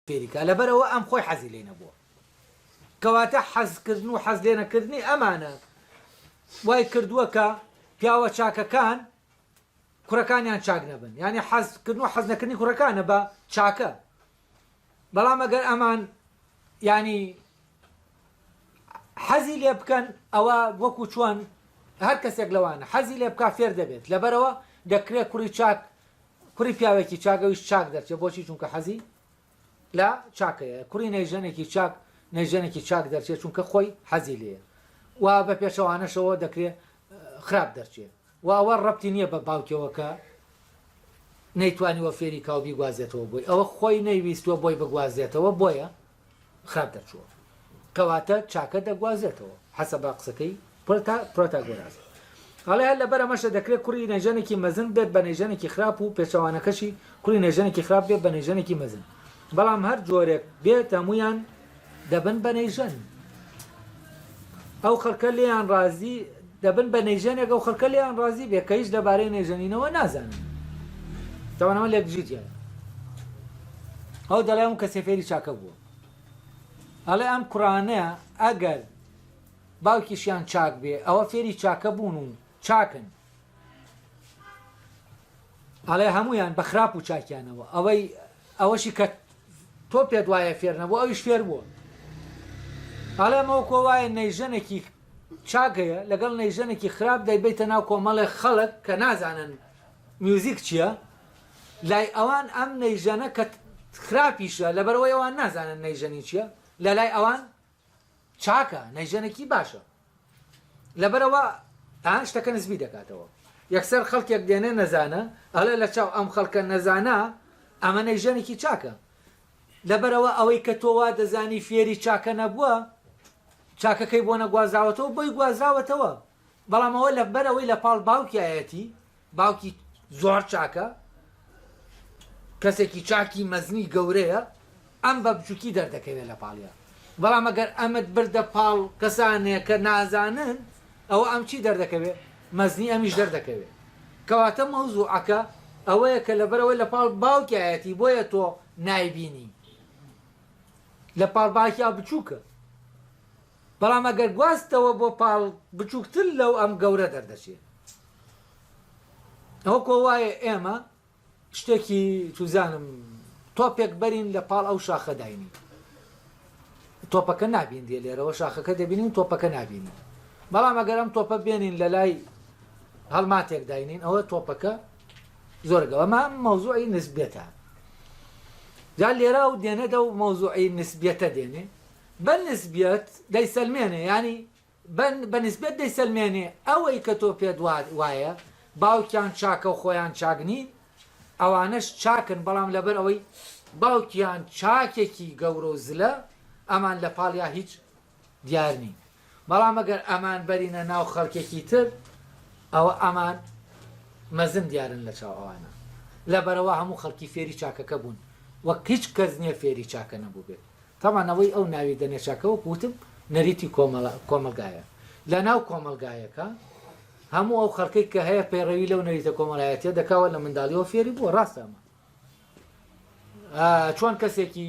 فێری کا لەبەر ئەوە ئەم خۆی حەزی لێ نەبووە کەواتە حەز کردن و حەز لێنە کردنی ئەمانە وای کردووە کە پیاوە چاکەکان کوڕەکانیان چاک نەبن یعنی حەز کردن و حەز نەکردنی کوڕەکانە بە چاکە بەڵام ئەگەر ئەمان ینی حەزی لێ بکەن ئەوە وەکو چۆن هەر کەسێک لەوانە حەزی لێ بک فێر دەبێت لەبەرەوە دەکرێت کوڕی چاک کوڕی پیاوێکی چاک ئەویش چاک دەرچێت بۆچی چونکە حەزی لە چاکەیە کوڕی نەی ژەنێکی چاک نەی ژەنێکی چاک دەرچێت چونکە خۆی حەزی لێە و بە پێچەوانەشەوە دەکرێت خراپ دەرچێت و ئەوە ڕەتی نییە بە باوکەوە کە نەیتوانیوە فێری کاوبی گوازێتەوە بۆی ئەوە خۆی نەیویستوە بۆی بگوازێتەوە بۆیە خراپ دەرچووە کەواتە چاکە دەگوازێتەوە حەسە با قسەکەی پرتا پرۆتاگۆراز ئەڵێ هەر لەبەر ئەمەشە دەکرێت کوڕی نەژەنێکی مەزن بێت بە نەژەنێکی خراپ و پێچەوانەکەشی کوڕی نەژەنێکی خراپ بێت بە نەژەنێکی مەزن بەڵام هەر جۆرێک بێت هەمویان دەبن بە نەیژەن ئەو خەلکە لێیان رازی دەبن بە نەیژەنێک ئەو خەلکە لێیان رازی بێ کە هیچ لەبارەی نەیژەنینەوە نازانن تاوان ئەوە لێکدژیتیانە ئەو دەڵێ ئەم کەسێ فێری چاکە بووە ئەڵێ ئەم کوڕانەیە ئەگەر باوکیشیان چاک بێ ئەوە فێری چاکە بوون و چاکن ئەڵێ هەمویان بە خراپ و چاکیانەوە ئەوەی ئەوەشی کە تۆ پێت وایە فێر نەبووە ئەویش فێر بووە ئەڵێ مۆکۆ وایە نەیژەنەکی چاک هەیە لەگەڵ نەیژەنەکی خراپ دەیبەیتە ناو کۆمەڵێ خەڵک کە نازانن میوزیک چییە لای ئەوان ئەم نەیژەنە کە خراپیشە لەبەرەوەی ئەوان نازانن نەیژەنی چییە لەلای ئەوان چاکە نەیژەنەکی باشە لەبەرەوە ئان شتەکە نزبی دەکاتەوە یەکسەر خەڵکێک دێنێ نەزانە ئەڵێ لە چاو ئەم خەڵکە نەزانە ئەمە نەیژەنێکی چاکە لەبەرەوە ئەوەی کە تۆوا دەزانی فێری چاکە نەبووە چاکەکەی بۆ نەگوازاوەتەوە بۆی گوازاوەتەوە بەڵام ئەوە لەبەر ئەوەی لە پاڵ باوکیایەتی، باوکی زۆر چاکە، کەسێکی چاکی مەزنی گەورەیە، ئەم بە بچووکی دەردەکەوێت لە پاڵیا. بەڵام ئەگەر ئەمت بردە پاڵ کەسانێک کە نازانن، ئەوە ئەم چی دەردەکەوێت؟ مەزنی ئەمیش دەردەکەوێت. کەواتە مەوزووعەکە ئەوەیە کە لەبەر ئەوەی لە پاڵ باوکیایەتی بۆیە تۆ نایبینی. لە پاڵ باکیا بچووکە. بەڵام ئەگەر گواستتەوە بۆ پاڵ بچووکتر لەو ئەم گەورە دەردەچێت ئەوە کۆ وایە ئێمە شتێکی چوزانم تۆپێک بەرین لە پاڵ ئەو شاخە داینی تۆپەکە نابین دێ لێرەوە شاخەکە دەبینین و تۆپەکە نابینین بەڵام ئەگەرم تۆپە بێنین لە لای هەڵماتێک داینین ئەوە تۆپەکە زۆرگەوەمە مەوزوعی نسبێتە جا لێرا و دێنێتە و مەوزوعی نسبێتە دێنێ بە نسبیەت دەیسەلمێنێ یانی بە نسبیەت دەیسەلمێنێ ئەوەی کە تۆ پێت وایە باوکیان چاکە و خۆیان چاک نین ئەوانەش چاکن بەڵام لەبەر ئەوەی باوکیان چاکێکی گەورە و زلە ئەمان لە پاڵیا هیچ دیار نین. بەڵام ئەگەر ئەمان بەرینە ناو خەڵکێکی تر ئەوە ئەمان مەزن دیارن لە چاو ئەوانە لەبەرئەوە هەموو خەڵکی فێری چاکەکە بوون وەک هیچ کەس نیە فێری چاکە نەبووبێت تەبعەن ئەوەی ئەو ناوی دەنێ چاکە وەک وتم نەریتی کۆمەڵە کۆمەڵگایە لە ناو کۆمەڵگایەکە هەموو ئەو خەڵکەی کە هەیە پەیڕەوی لەو نەریتە کۆمەڵایەتیە دەکەوە لە منداڵیەوە فێری بووە ڕاستە ئەمە چۆن کەسێکی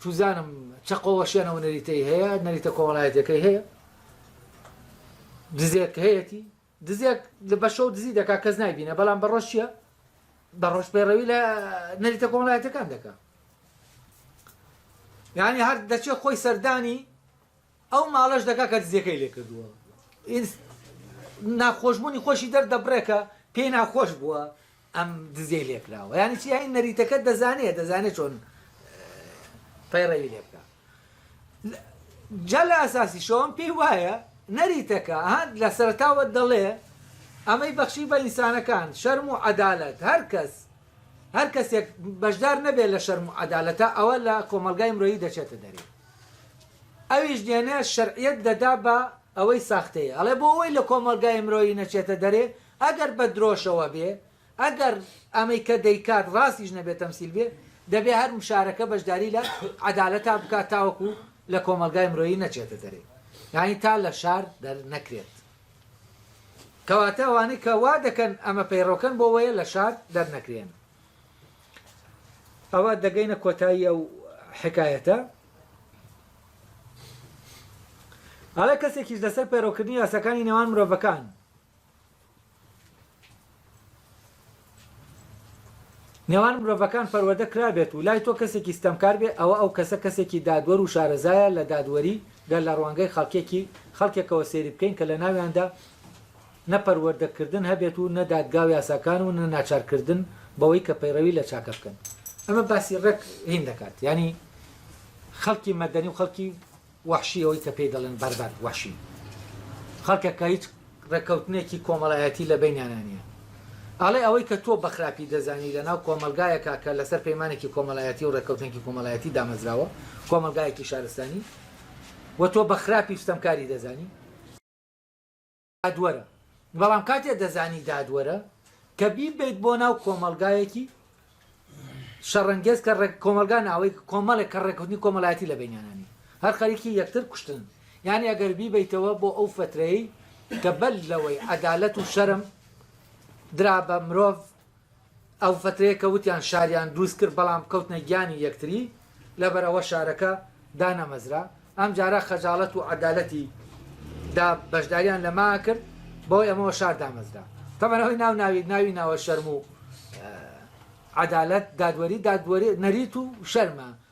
چوزانم چە قۆڵەشیان ئەوە نەریتەی هەیە نەریتە کۆمەڵایەتیەکەی هەیە دزێک هەیەتی دزێک لە بەشەو دزی دەکا کەس نایبینە بەڵام بەڕۆژ چیە بەڕۆژ پەیڕەوی لە نەریتە کۆمەڵایەتەکان دەکا یعنی هەر دەچێت خۆی سەردانی ئەو ماڵەش دەکا کە دزیەکەی لێ کردووە ئینس ناخۆشبوونی خۆشی دەردەبڕێ کە پێی ناخۆش بووە ئەم دزیەی لێ کراوە یانی چی یانی نەریتەکە دەزانێ دەزانێ چۆن پەیڕەوی لێ بکە جا لە ئەساسی شەوەم پێی وایە نەریتەکە هەند لە سەرتاوە دەڵێ ئەمەی بەخشی بە ئینسانەکان شەرم و عەدالەت هەر کەس هەر کەسێک بەشدار نەبێت لە شەرم و عەدالەتە ئەوە لە کۆمەڵگای مرۆیی دەچێتە دەرێ ئەویش دێنێ شەرعیەت دەدا بە ئەوەی ساختەیە ئەڵێ بۆ ئەوەی لە کۆمەڵگای مرۆیی نەچێتە دەرێ ئەگەر بە درۆشەوە بێ ئەگەر ئەمەی کە دەیکات ڕاستیش نەبێ تەمسیل بێ دەبێ هەر مشارەکە بەشداری لە عەدالەتا بکات تاوەکو لە کۆمەڵگای مرۆیی نەچێتە دەرێ یانی تا لە شار دەرنەکرێت کەواتە ئەوانەی کە وا دەکەن ئەمە پەیڕەوکەن بۆ وەیە لە شار دەرنەکرێن. ئەوە دەگەینە کۆتایی ئەو حکایەتە ئەڵێ کەسێکیش لەسەر پەیڕەوکردنی یاساکانی نێوان مرۆڤەکان نێوان مرۆڤەکان پەروەردە کرابێت و لای تۆ کەسێکی ستەمکار بێ ئەوە ئەو کەسە کەسێکی دادوەر و شارەزایە لە دادوەری گەر لە ڕوانگەی خەڵکێکی خەڵکێکەوە سەیری بکەین کە لە ناویاندا نە پەروەردە کردن هەبێت و نە دادگا و یاساکان و نە ناچار کردن بەوەی کە پەیڕەوی لە چاکە بکەن. ئەمە باسی ڕێک هین دەکات یانی خەڵکی مەدەنی و خەڵکی وەحشی ئەوەی کە پێی دەڵێن بەربەر وەحشی خەڵکە کە هیچ ڕێککەوتنێکی کۆمەڵایەتی لە بەینیانا نییە ئەڵێ ئەوەی کە تۆ بە خراپی دەزانی لە ناو کۆمەڵگایەکا کە لەسەر پەیمانێکی کۆمەڵایەتی و ڕێککەوتنێکی کۆمەڵایەتی دامەزراوە کۆمەڵگایەکی شارستانی و تۆ بە خراپی و ستەمکاری دەزانی دادوەرە، بەڵام کاتێ دەزانی دادوەرە کە بیبەیت بۆ ناو کۆمەڵگایەکی شەڕەنگێز کە ڕێک کۆمەلگا ناوەی کۆمەڵێک کە ڕێکوتنی کۆمەلایەتی لە بینیانانی هەر خەریکی یەکتر کوشتن یعنی ئەگەر بیبیتەوە بۆ ئەو فترەی کە بەل لەوەی عەدالەت و شەرم درا بە مرۆڤ ئەو فترەیە کە وتیان شاریان دروست کرد بەڵام کەوتنە گیانی یەکتری لەبەر ئەوە شارەکە دانەمەزرا ئەمجارە خەجاڵەت و عەدالەتی دا بەشداریان لە ما کرد بەوەی ئەمەوە شار دامەزرا تەبەن ئەوەی ناو ناوی ناوی ناوە شەرم و عەدالەت دادوەری دادوەری نەریت و شەرمە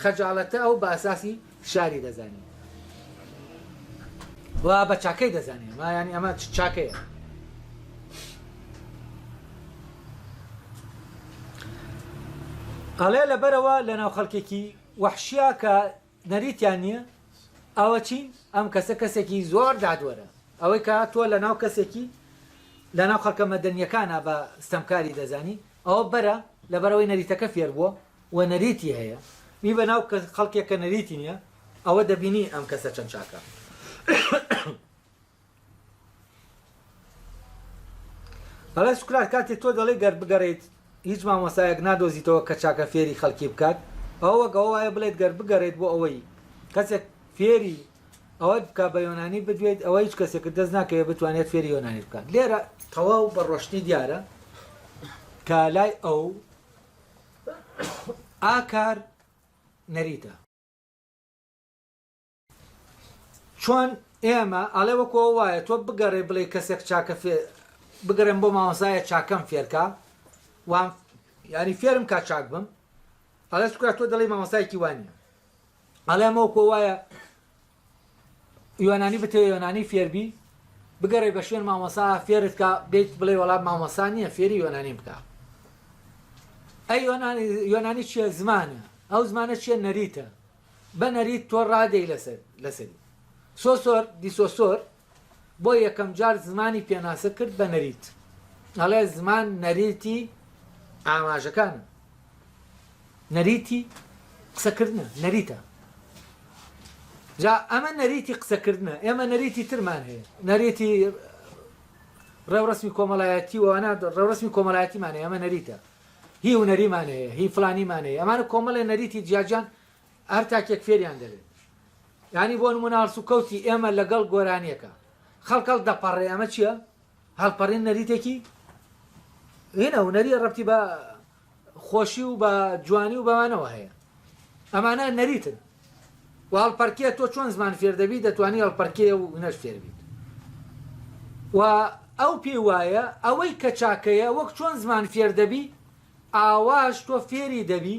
خەجاڵەتە ئەو باساسی فشاری دەزانێ و بە چاکەی دەزانێ ما ینی ئەمە چاکەیە ئەڵێ لەبەرەوە لە ناو خەڵکێکی وەحشیا کە نەریتیان نییە ئەوە چین ئەم کەسە کەسێکی زۆر دادوەرە ئەوەی کە تۆ لە ناو کەسێکی لە ناو خەڵکە مەدەنیەکانە بە ستەمکاری دەزانی ئەوە بەرە لەبەرەوەی نەریتەکە فێر بووە و نەریتی هەیە بی بە ناو کە خەڵکێک کە نەریتی نیە ئەوە دەبینی ئەم کەسە چەند چاکە بەڵێ سوکرات کاتێ تۆ دەڵێ گەر بگەڕیت هیچ مامۆسایەک نادۆزیتەوە کە چاکە فێری خەڵکی بکات ئەوە گەوە وایە بڵێت گەر بگەڕێت بۆ ئەوەی کەسێک فێری ئەوەت بکە بە یۆنانی بدوێت ئەوە هیچ کەسێک دەست ناکەوێت بتوانێت فێری یۆنانی بکات لێرە تەواو بە ڕۆشنی دیارە کە لای ئەو ئاکار نەریتە. چۆن ئێمە ئەڵێ وەکۆ وایە تۆ بگەڕێ بڵێ کەسێک چاکە بگەڕێن بۆ ماوەسایە چاکەم فێرکە وام یاری فێرم کا چاک بم ئەڵێ سکرات تۆ دەڵی مامەسایکی وانە ئەڵێمەوە کۆ وایە یۆنانی بتەوێ یۆنانی فێر بی بگەڕێ بە شوێن مامۆسا فێرت کا بێت بڵێ وەڵام مامۆسا نییە فێری یۆنانی بکە ئەی یۆنانی یۆنانی چیە زمانە ئەو زمانە چیە نەریتە بە نەریت تۆ ڕادەی لەسەر لەسەری سۆسۆر دیسۆسۆر بۆ یەکەم جار زمانی پێناسە کرد بە نەریت ئەڵێ زمان نەریتی ئاماژەکانە نەریتی قسەکردنە نەریتە جا ئەمە نەریتی قسەکردنە ئێمە نەریتی ترمان هەیە نەریتی ڕێوڕسمی کۆمەڵایەتی وانە ڕێوڕسمی کۆمەلایەتیمانە ئەمە نەریتە هی و نەریمانەیە هی فلانیمانەیە ئەمانە کۆمەڵێ نەریتی جیاجان هەر تاکێک فێریان دەبێت یانی بۆ نمونە هەڵسوکەوتی ئێمە لەگەڵ گۆرانیەکە خەڵک هەڵ دەپەڕێ ئەمە چییە؟ هەڵپەڕین نەریتێکی هێنە هونەریە ڕەتی بە خۆشی و بە جوانی و بەوانەوە هەیە ئەمانە نەریتن و هەڵپەرکێ تۆ چۆن زمان فێردەبی دەتوانانی هەڵپەرکێ و هونەر فێربیت و ئەو پێی وایە ئەوەی کە چاکەیە وەک چۆن زمان فێردەبی ئاواش تۆ فێری دەبی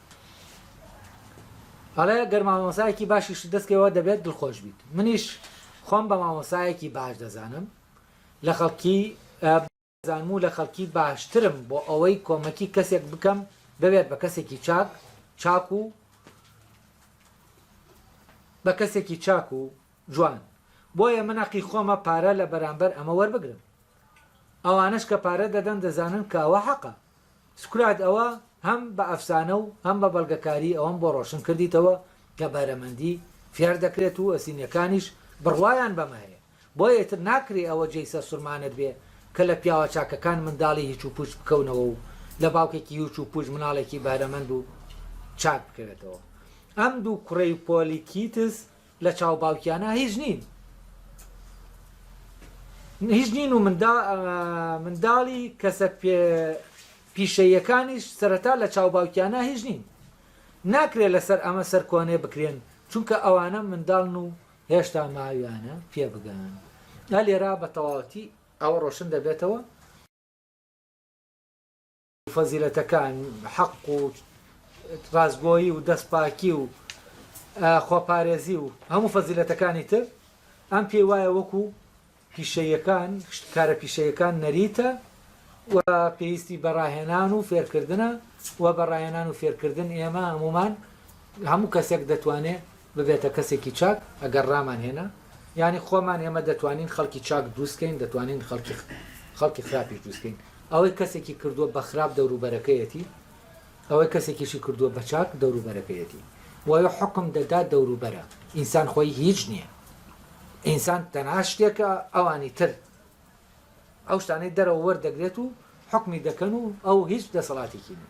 ئەڵێ گەر مامۆسایەکی باشیشت دەست کەوێەوە دەبێت دڵخۆش بیت منیش خۆم بە مامۆسایەکی باش دەزانم لە خەڵکی زانم و لە خەڵکی باشترم بۆ ئەوەی کۆمەکی کەسێک بکەم بەوێت بە کەسێکی چاک چاک و بە کەسێکی چاک و جوان بۆیە من عقی خۆمە پارە لە بەرامبەر ئەمە وەربگرم ئەوانش کە پارە دەدەن دەزانن کاوە حەقە سوکرات ئەوە هەم بە ئەفسانە و هەم بە بەڵگەکاری ئەوەم بۆ ڕۆشن کردیتەوە کە بەرەمەندی فێر دەکرێت و ئەسینیەکانیش بڕوایان بەمە هەیە بۆیە ئیتر ناکرێ ئەوە جێی سەرسورمانت بێ کە لە پیاوە چاکەکان منداڵی هیچ و پوچ بکەونەوە و لە باوکێکی هیچ و پوچ مناڵێکی بەهرەمەند و چاک بکەوێتەوە ئەم دوو کوڕەی پۆلیکیتس لە چاو باوکیانا هیچ نین هیچ نین و منداڵی کەسە پیشەییەکانیش سەرەتا لە چاو باوکیانا هیچ نین ناکرێت لەسەر ئەمە سەرکۆنێ بکرێن چونکە ئەوانە منداڵن و هێشتا ماویانە پێ بگەن لێرا بە تەواوەتی ئەوە ڕۆشن دەبێتەوە فەزیلەتەکان، حەق و ڕاستگۆیی و دەستپاکی و خۆپارێزی و هەموو فەزیلەتەکانی تر، ئەم پێی وایە وەکو پیشەیەکان، کارە پیشەیەکان نەریتە و پێویستی بە ڕاهێنان و فێرکردنە و بە ڕاهێنان و فێرکردن ئێمە هەموومان هەموو کەسێک دەتوانێ ببێتە کەسێکی چاک ئەگەر ڕامان هێنا یانی خۆمان ئێمە دەتوانین خەڵکی چاک دروست کەین دەتوانین خەڵکی خەڵکی خراپیش دروست کەین ئەوەی کەسێکی کردووە بە خراپ دەوروبەرەکەیەتی ئەوەی کەسێکیشی کردووە بە چاک دەوروبەرەکەیەتی وەوێ حکم دەدا دەوروبەرە ئینسان خۆی هیچ نییە ئینسان تەنها شتێکە ئەوانی تر ئەو شتانەی دەرەوە وەردەگرێت و حکمی دەکەن و ئەو هیچ دەسەڵاتێکی نیە